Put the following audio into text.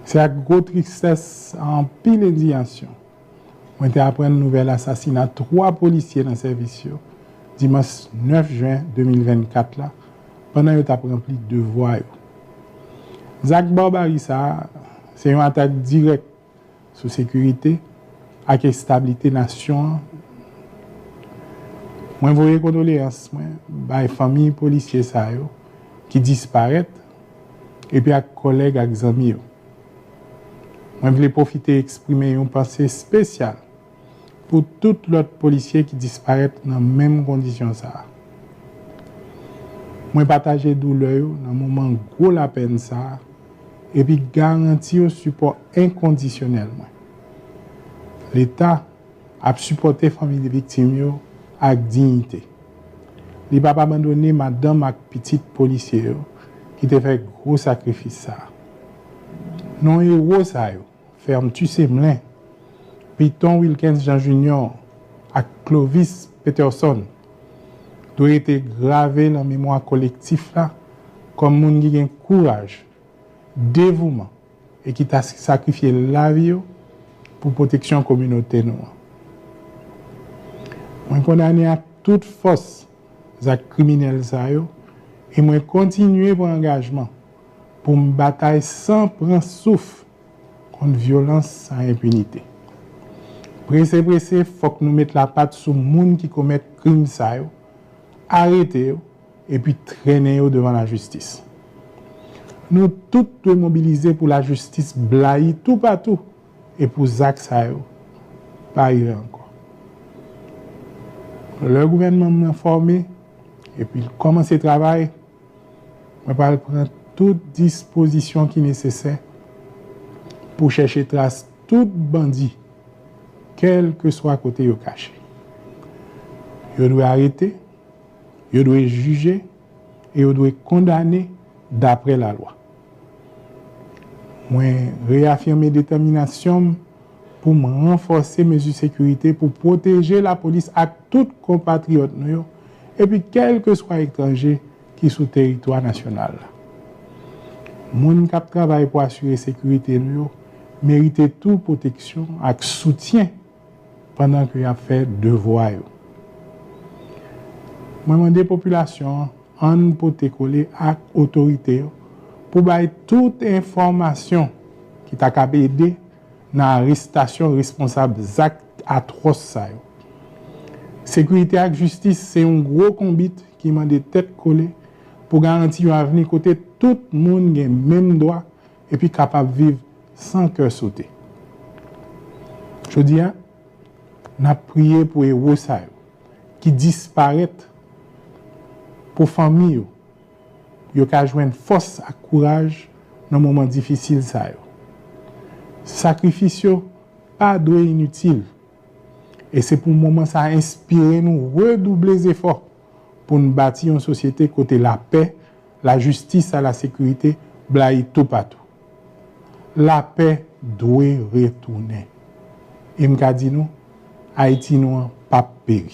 Se ak gwo tristès, ak anpil endiyasyon, mwen te aprann nouvèl asasina 3 polisye nan sèvis yo, dimanch 9 jen 2024 la, pandan yo t ap ranpli devwa yo. Zak barbari sa a, se yon atak dirèk. sou sekirite ak establite nasyon an mwen voye kondoleyans mwen bay fanmi polisye sa yo ki disparèt epi ak kòlèg ak zanmi yo mwen vle pwofite eksprime yon panse spesyal pou tout lòt polisye ki disparèt nan menm kondisyon sa a. Mwen pataje doulè yo nan moman gwo lapèn sa a epi garanti yo sipò enkondisyonèl mwen. Leta ap sipòte fanmi viktim yo ak diyite. Li p ap abandone madanm ak pitit polisye yo ki te fè gwo sakrifis sa a. Non ewo sa yo Fermetu Semelin, Piton Wilkens Jean Junior ak Clovis Peterson dwe rete grave lan memwa kolektif la kòm moun ki gen kouraj, devouman e ki ta sakrifye lavi yo pou pwoteksyon kominote nou an. Mwen kondane ak tout fòs zak kriminèl sa yo e mwen kontinye pran angajman pou m batay san pran souf kont vyolans san enpinite. Prese prese fòk nou met lapat sou moun ki komèt krim sa yo, arete yo epi trennen yo devan lajistis. Nou tout dwe mobilize pou lajistis blayi toupatou e pou zak sa yo pa rive ankò. Lè gouvènman m nan fòme epi l kòmanse travay, Mwen pral pran tout dispozisyon ki nesesè pou chèche tras tout bandi kèlkeswa kote yo kache. Yo dwe arete, yo dwe jije e yo dwe kondane dapre lalwa. Mwen reyafime detèminasyon m pou m ranfòse mezi sekirite pou pwoteje lapolis ak tout konpatriyòt nou yo epi kèlkeswa etranje ki sou teritwa nasyonal la. Moun k ap travay pou asire sekirite nou yo merite tou pwoteksyon ak soutyen pandan ke y ap fè devwa yo. Mwen mande popilasyon an, an n pote kole ak otorite yo pou bay tout enfòmasyon ki ta kab ede nan arestasyon responsab zak atwòs sa yo. Sekirite ak jistis se yon gwo konbit ki mande tèt kole pou garanti yon avni kote tout moun gen menm dwa epi kapab viv san kè sote. Jodi a, n ap priye pou ewo sa yo ki disparèt, pou fanmi yo. Yo ka jwenn fòs ak kouraj nan moman difisil sa yo. Sakrifis yo pa dwe initil, e se pou moman sa a enspire nou redouble zefò pou n bati yon sosyete kote lapè, lajistis a lasekirite blayi toupatou. Lapè dwe retounen. E m ka di nou, Ayiti nou an pap peri.